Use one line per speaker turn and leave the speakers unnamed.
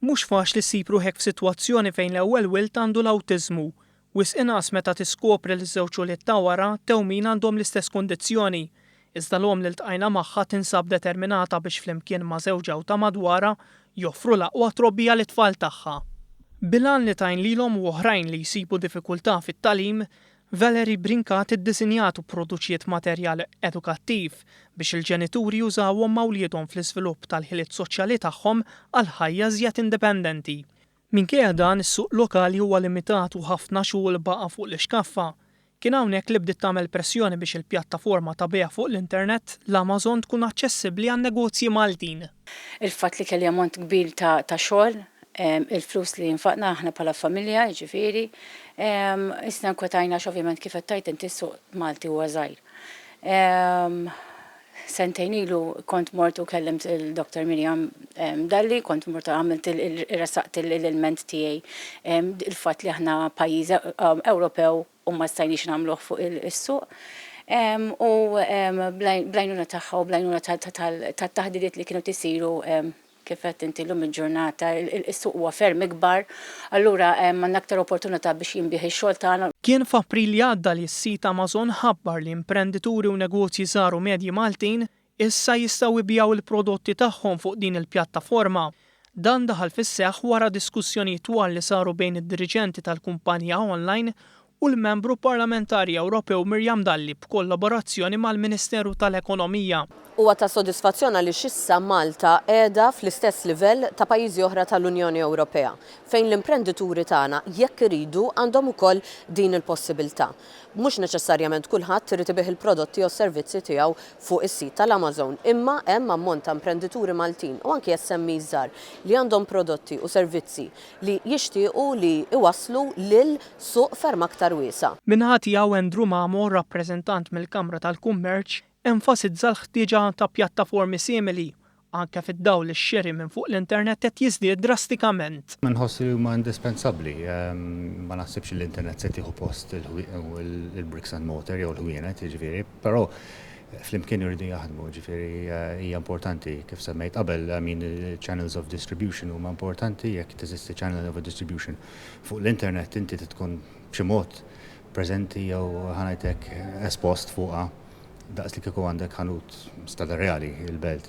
Mhux faċli ssib ruħek f'sitwazzjoni fejn l-ewwel wild għandu l-awtiżmu. Wisq inqas meta tiskopri li ż-żewġ ulied ta' wara tewmin għandhom l-istess kundizzjoni. Iżda l-omm li ltqajna magħha tinsab determinata biex flimkien ma' żewġ għewta madwarha joffru l-aqwa trobbija lit-tfal tagħha. Bil-għan li tgħin lilhom u oħrajn li jsibu diffikultà fit-tagħlim, Valerie Brincat iddisinjat u pproduċiet materjal edukattiv biex il-ġenituri jużawhom ma' wliedhom fl-iżvilupp tal-ħiliet soċjali tagħhom għal ħajja iżjed indipendenti. Minkejja dan, is-suq lokali huwa limitat u ħafna xogħol baqa' fuq l-ixkaffa. Kien hawnhekk li bdiet tagħmel pressjoni biex il-pjattaforma ta' bejgħ fuq l-internet, l-Amazon tkun aċċessibbli għan-negozji Maltin. Il-fatt li kelli
ammont kbir ta' xogħol, il-flus li nfaqna aħna bħala familja, jiġifieri, isna nkwetajna għax ovvjament kif qed tgħid inti s-suq Malti huwa żgħir. Sentejn ilu kont mort u kellimt il-Doktor Miriam Dalli, kont mort għamilt il-, iressaqt l-ilment tiegħi, il-fatt li aħna pajjiż Ewropew, u ma stajniex nagħmluh fuq is-suq u bl-għajnuna tagħha u bl-għajnuna tat-taħdiriet li kienu qed isiru kif għedt inti llum il-ġurnata is-suq huwa ferm ikbar, allura għandna aktar opportunità biex jinbiegħ ix-xogħol tagħna. Kien f'April li
għadda li s-sit Amazon ħabbar li imprendituri u negozji żgħar u medji Maltin Issa jistgħu jbigħu l-prodotti tagħhom fuq din il-pjattaforma. Dan daħal fis-seħħ wara diskussjonijiet twal li saru bejn id-diriġenti tal-kumpanija online u l-Membru Parlamentari Ewropew Miriam Dalli b'kollaborazzjoni mal-Ministeru tal-Ekonomija. Huwa ta'
sodisfazzjon għaliex issa Malta qiegħda fl-istess livell ta' pajjiżi oħra tal-Unjoni Ewropea, fejn l-imprendituri tagħna, jekk iridu, għandhom ukoll din il-possibiltà. Mhux neċessarjament kulħadd irid ibigħ il-prodotti jew s-servizzi tiegħu fuq is-sit tal-Amazon, imma hemm ammont ta' imprendituri Maltin u anki SMEs żgħar li għandhom prodotti u servizzi li jixtiequ li jwasslu lil suq ferm aktar wiesa'. Min-naħa tiegħu Andrew
Mamo, rappreżentant mill-Kamra tal-Kummerċ, enfasizza l-ħtieġa ta' pjattaformi simili anke fid-dawl li x-xiri minn fuq l-internet qed jiżdied drastikament. Inħoss li huma
indispensabbli. Ma naħsibx li l-internet se tieħu post il-bricks and mortar jew il-ħwienet, jiġifieri, però flimkien iridu jaħdmu, jiġifieri hija importanti, kif semmejt qabel, I mean il-channels of distribution huma importanti, jekk teżisti channel of distribution fuq l-internet inti trid tkun b'xi mod preżenti jew ħa ngħid hekk espost fuqha. Daqs li kieku għandek ħanut Stade Reali, il-Belt.